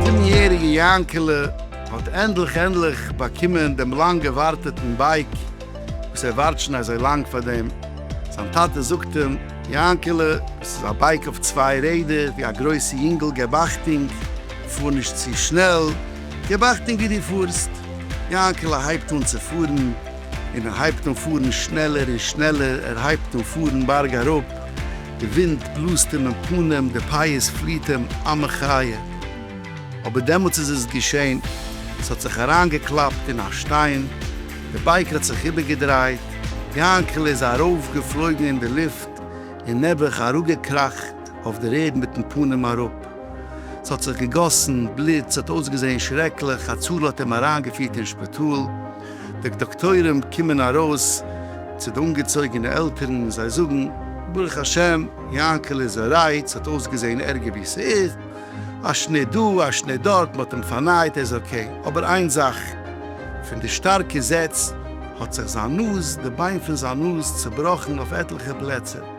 זיבן יעריגע יאנקעלע האט ענדליך ענדליך באקומען דעם לאנג געווארטעטן בייק וואס ער ווארט שוין אזוי לאנג פאר דעם, זיין טאטע זאגט אים, יאנקעלע, דאס איז א בייק אויף צוויי רעדער, ווי א גרויסע יונגעל געב אכטונג, פאר נישט צו שנעל. געב אכטונג ווי דו פארסט! יאנקעלע הייבט אן צו פארן, און ער הייבט אן פארן שנעלער און שנעלער, ער הייבט אן פארן בארג אראפ, די ווינט בלאזט אים אין פנים, די פייערס פליעט אים, א מחיה! אבער דעמאלטס איז עס געשען, עס האט זיך אריינגעקלאפט אין א שטיין, די בייק האט זיך איבערגעדרייט, יאנקעלע איז ארויפגעפלויגן אין די לופט, און נעבעך אראפגעקראכט אויף דער ערד מיטן פנים אראפ. ס'האט זיך געגאסן בלוט, ס'האט אויסגעזען שרעקליך, הצלה האט אים אריינגעפירט אין שפיטאל, די דאקטוירים קומען ארויס צו די אנגעצויגענע עלטערן און זיי זאגן, ברוך השם, יענקל איז ארייט, ס'האט אויסגעזען ערגער ווי ס'איז, א שניט דא, א שניט דארט, מ'האט אים פארנייט, ער איז אקעי, אבער איין זאך, פון די שטארקע זעץ האט זיך זיין נאז, די ביין פון זיין נאז, צובראכן אויף עטליכע פלעצער.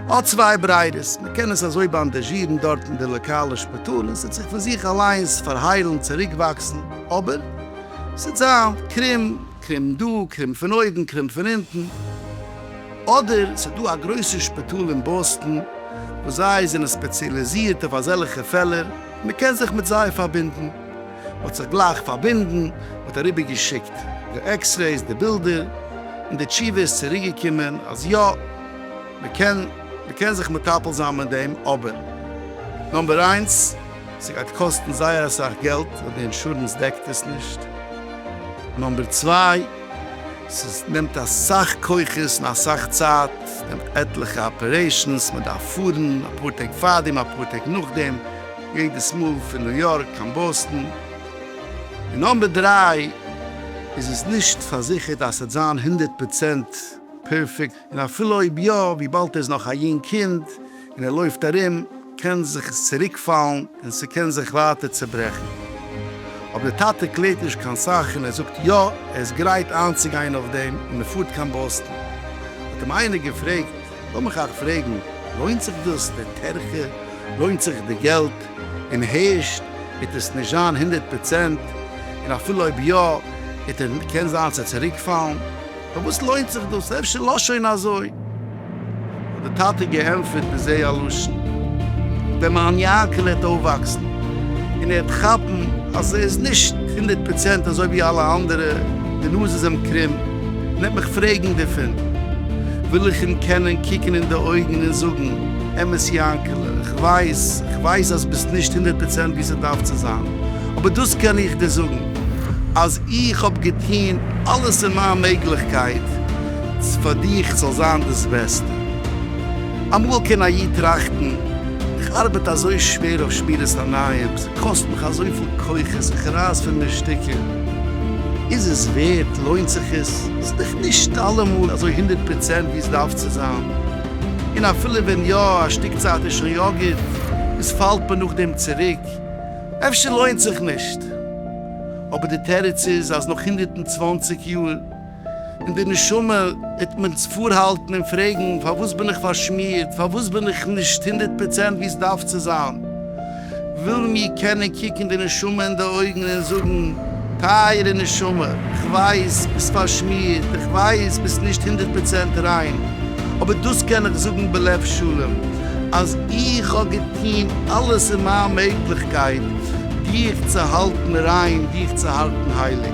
האט צוויי בריירעס, מען קען עס אזוי באנדאזשירן דארט אין די לאקאלע שפיטאל און ס'וועט זיך פון זיך אליינס פארהיילן, צוריקוואקסן, אבער ס'וועט זיין קרום, קרום דא, קרום פון אויבן, קרום פון אונטן. אדער ס'איז דא א גרויסע שפיטאל אין באסטן וואס זיי זענען ספעציאליזירט אויף אזעלכע פעלער און מען קען זיך מיט זיי פארבינדן. מ'האט זיך גלייך פארבינדן, מ'האט אריבער געשיקט די עקסרעיס, די בילדער, און די תשובה איז צוריק געקומען אז יא, מ'קען מ'קען זיך מטפל זיין מיט דעם, אבער נאמבער איינס, ס'גייט קאסטן זייער אסאך געלט ווייל די אינשורענס דעקט עס נישט, און נאמבער צוויי, ס'נעמט אסאך כוחות און אסאך צייט, ס'נעמט עטליכע אפערעישאנס, מ'דארף פארן אפאר טעג פארדעם אפאר טעג נאכדעם, יעדעס מאל פון ניו יארק קיין באסטן און נאמבער דרײַ איז עס נישט פארזיכערט אז ס'וועט זיין הונדערט פראצענט פערפעקט, און אפילו אויב יא, וויבאלד ער איז נאך א יונג קינד און ער לויפט ארום, קען זיך עס צוריקפאלן און ס'קען זיך ווייטער צעברעכן. אבער דער טאטע קלערט נישט קיין סאך און ער זאגט יא, ער איז גרייט איינצוגיין אויף דעם און מ'פארט קיין באסטן. האט אים איינער געפרעגט. לאמיך אייך פרעגן, לוינט זיך דאס? די טרחה? לוינט זיך די געלט? און הערשט וועט עס נישט זיין הונדערט פראצענט, און אפילו אויב יא, וועט ער קען זיין צו צוריקפאלן. פארוואס לוינט זיך דאס? אפשר לאז שוין אזוי. האט די טאטע געענטפערט בזה הלשון. ווען מיין יענקעלע העט אויפוואקסן, און ער העט כאפן אז ער איז נישט הונדערט פראצענט אזוי ווי אלע אנדערע, די נאז איז אים קרום, נעמט מיך פרעגן דערפון, וויל איך אים קענען קוקן אין די אויגן און זאגן, אמת יענקעלע, איך ווייס, איך ווייס אז ביסט נישט הונדערט פראצענט ווי ס'דארף צו זיין, אבער דאס קען איך דיר זאגן, אז איך האב געטון אלעס אין מיין מעגליכקייט צו פאר דיך זאל זיין דאס בעסטע. אמאל קען א איד טראכטן, איך ארבעט אזוי שווער אויף שמירת עיניים, ס'קאסט מיך אזויפיל כוחות, איך רייס פון מיר שטיקער, איז עס ווערט? לוינט זיך עס? ס'איז דאך נישט אלעמאל אזוי הונדערט פראצענט ווי עס דארף צו זיין, און אפילו ווען יא, א שטיק צייט איז שוין יא גוט, און ס'פאלט מען נאכדעם צוריק, אפשר לוינט זיך נישט. אבער די תירוץ איז אז נאך הונדערט און צוואַנציק יאר, אין די נשמה וועט מען פארהאלטן און פרעגן, פארוואס בין איך פארשמירט? פארוואס בין איך נישט הונדערט פראצענט ווי עס דארף צו זיין? ווילן מיר קענען קוקן די נשמה אין די אויגן און זאגן, טייערע נשמה, איך ווייס ביסט פארשמירט, איך ווייס ביסט נישט הונדערט פראצענט ריין, אבער דאס קען איך זאגן בלב שלם, אז איך האב געטון אלעס אין מיין מעגליכקייט דיך צו האלטן ריין, דיך צו האלטן הייליג.